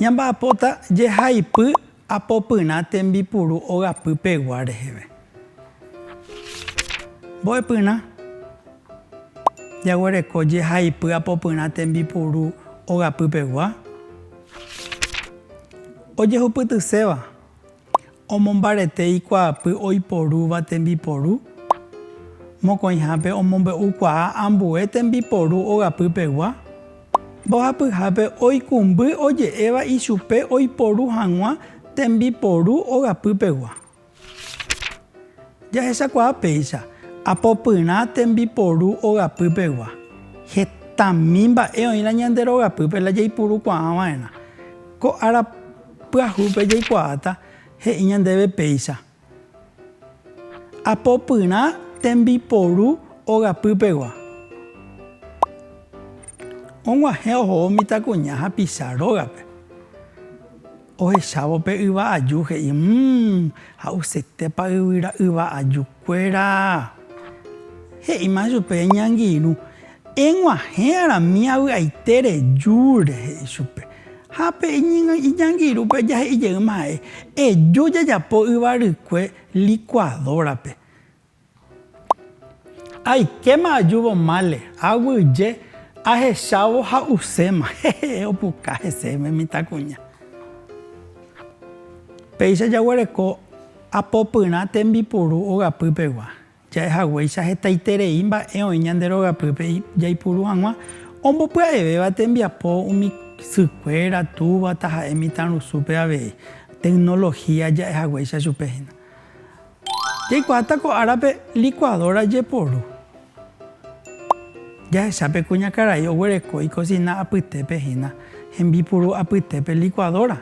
Ñamba'apóta jehaipy apopyrã tembipuru ogapy pegua reheve. Mbo'epyrã jaguereko jehaipy apopyrã tembipuru ogapy pegua ojehupytyséva. Omombarete ikuaapy oiporúva tembiporu, mokõihápe omombe'ukuaa ambue tembiporu ogapy pegua, mbohapyhápe oikũmby oje'éva ichupe oiporu hag̃ua tembiporu ogapy pegua. Jahechakuaa péicha, apopyrã tembiporu ogapy pegua, hetami mba'e oĩrã ñande rogapýpe la jaipurukuaava'erã. Ko ára. Pyahúpe jaikuaáta he'i ñandéve péicha, Apopyrã tembiporu ogapýpegua. Og̃uahẽ ohóvo mitãkuña hapicha rógape. Ohechávo pe yva aju he'i, Mmmm, ha'usétepa yvyra yva ajukuéra! He'íma chupe ñangirũ, Eg̃uahẽ arami avy'aite reju rehe ichupe. Ha pe iñangirũpe ajahe'i jeýma ha'e, Eju jajapo yvarykue licuadora-pe. Aikéma ajúvo mále, aguyje, ahechávo ha uséma. Hehe, opuka hese pe mitãkuña. Péicha jaguereko apopyrã tembipuru ogapy pegua. Ja'e haguéicha hetaiterei mba'e oĩ ñande rogapýpe jaipuru hag̃ua ombopya'evéva tembiapo umi sykuéra, túva, taha'e mitãrusúpe avei. Tecnología ja'e haguéicha chupe hína. Jaikuaáta ko árape licuadora jeporu. Jahecha pe kuñakarai oguereko ikosina apytépe hína, hembipuru apytépe licuadora.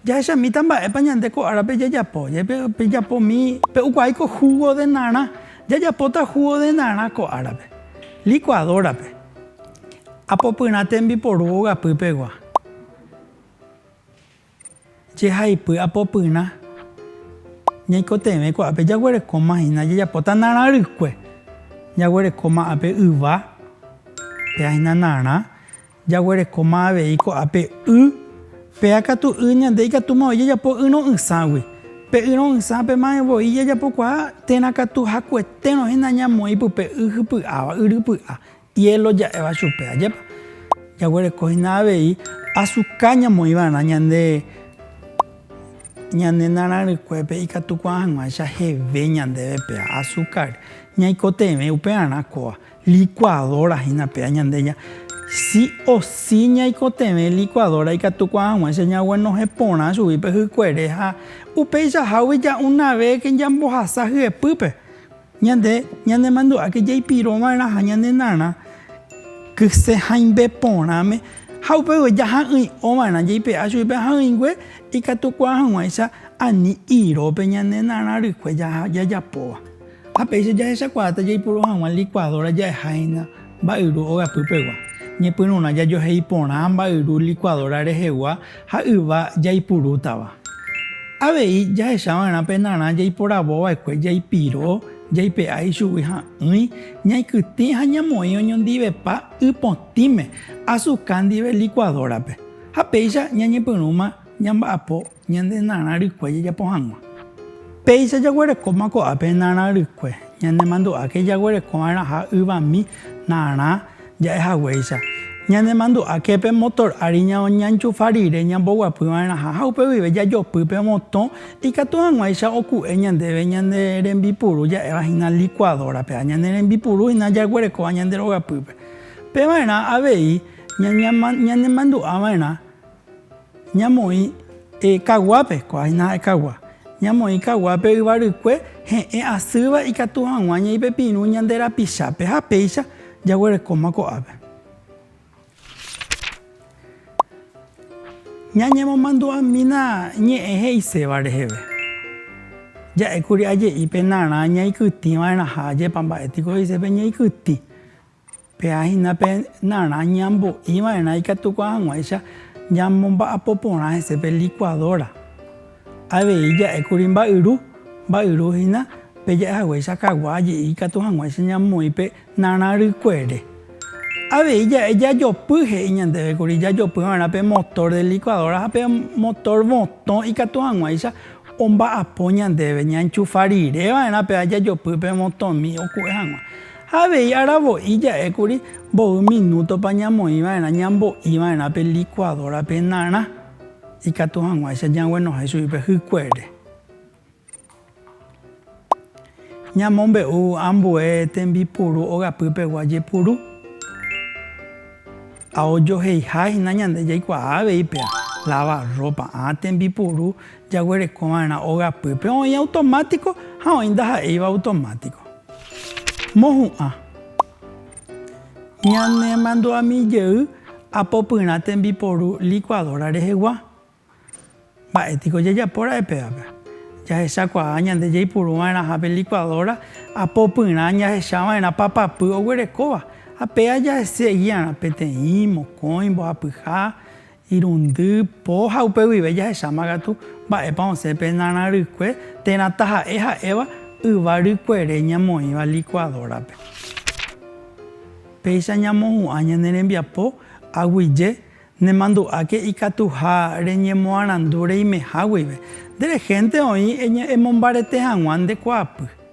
Jahechamíta mba'épa ñande ko árape jajapo. Pejapómi, pe'ukuaái ko júgo de narã. Jajapóta júgo de narã ko árape, likuadórape. Apopyrã tembiporu ogapýpegua. Jehaipy apopyrã, ñaikotevẽ ko'ápe jaguerekóma hína, jajapóta narã rykue. Jaguerekóma ápe yva, pe'ahína narã. Jaguerekóma avei ko'ápe y, péa katu y ñande ikatúma voi jajapo yrõ'ỹságui. Pe yrõ'ỹsã pema'ẽ voi jajapokuaa térã katu hakuetérõ hína ñamoĩ pype y hypy'áva, y rypy'a, hielo ja'éva chupe, ajépa. Jaguereko hína avei azuka ñamoĩ va'erã ñande ñane narãrykuépe ikatu kuaa'ỹvaicha heve ñandéve péa, azúcar, ñaikotevẽ upearã kóva. Licuadora hína péa ñande ña sí o sí ñaikotevẽ licuadora ikatu kuaag̃uáicha ñaguenohẽ porã chugui pe hykuere ha upeichahágui ja una vez ñambohasa hyepýpe ñande ñanemandu'áke jaipiro va'erãha ñande narã kyse haimbe porãme ha upévoi jaha'ỹi'o va'erã jaipe'a chugui pe ha'ỹingue ikatu kuaag̃uáicha ani irópe ñande narã rykue jajapóva. Ha péicha jahechakuaáta jaipuru hag̃ua likuadóra ja'eháina mba'yru ogapýpegua. Ñepyrũrã jajohe'i porã mba'yru likuadóra rehegua ha yva jaipurútava. Avei jahechava'erã pe narã jaiporavova'ekue jaipiro, jaipe'a ichugui ha'ỹi, ñaikytĩ ha ñamoĩ oñondivepa ypotĩme, azuka ndive likuadórape. Ha péicha ñañepyrũma ñamba'apo Ñande narã rykue jajapo hag̃ua. Péicha jaguerekóma ko'ápe narã rykue, ñanemandu'áke jaguereko va'erãha yvami narã ja'e haguéicha. Ñanemandu'áke pe motor ári ñañanchufa rire ñamboguapy va'erãha ha upe guive jajopy pe motõ ikatu hag̃uáicha oku'e ñandéve ñande rembipuru ja'éva hína licuadora-pe ha ñande rembipuru hína jaguerekóva ñande rogapýpe. Pe va'erã avei ñanemandu'a va'erã Ñamoĩ kaguápe, ko'ágina kagua, ñamoĩ kaguápe yvarykue he'ẽ asýva ikatu hag̃ua ñaipepirũ ñande rapichápe ha péicha jaguerekóma ko'ápe. Ñañemomandu'amína ñe'ẽ he'iséva reheve. Ja'ékuri aje'i pe narã ñaikytĩva'erãha, ajépa mba'e tiko he'ise pe ñaikytĩ. Pe'a hína pe narã ñambo'i va'erã ikatukuaa hag̃uáicha ñamomba'apo porã hese pe likuadóra. Avei ja'e kuri mba'yru, mba'yru hína pe ja'e haguéicha kagua aje'i ikatu hag̃uáicha ñamoĩ pe narã rykuere. Avei ja'e jajopy, he'i ñandéve kuri jajopy va'erã pe motor de licuadora ha pe motor votõ ikatu hag̃uáicha omba'apo ñandéve, ñaenchufa rire va'erã pe'a jajopy pe votõmi oku'e hag̃ua. Ha avei aravo'i ja'e kuri mboy minútopa ñamoĩ va'erã ñambo'i va'erã pe likuadórape narã, ikatu hag̃uáicha ñaguenohẽ chugui pe hykuere. Ñamombe'u ambue tembipuru ogapýpegua jepuru. Ha ojoheihahína ñande jaikuaa avei pe lavarrópa, ã tembipuru. Jaguerekova'erã ogapýpe oĩ automátiko ha oĩ ndaha'éiva automátiko. Mohu'ã. Ñanemandu'ami jey apopyrã tembiporu licuadora rehegua. Mba'e piko jajapo ra'e pévape? Jahechakuaa ñande jaipuruva'erãha pe licuadora apopyrã jahechava'erã papapy oguerekóva ha péa jaseguiarã peteĩ, mokõi, mbohapyha, Irundy po ha upe guive jahecháma katu mba'épa osẽ pe narã rykue térã taha'e ha'éva yva rykuere ñamoĩva licuadora-pe. Péicha ñamohu'ã ñane rembiapo aguije, nemandu'áke ikatuha reñemoarandu reimeha guive. Nde rehénte oĩ emombarete hag̃ua nde kuaapy.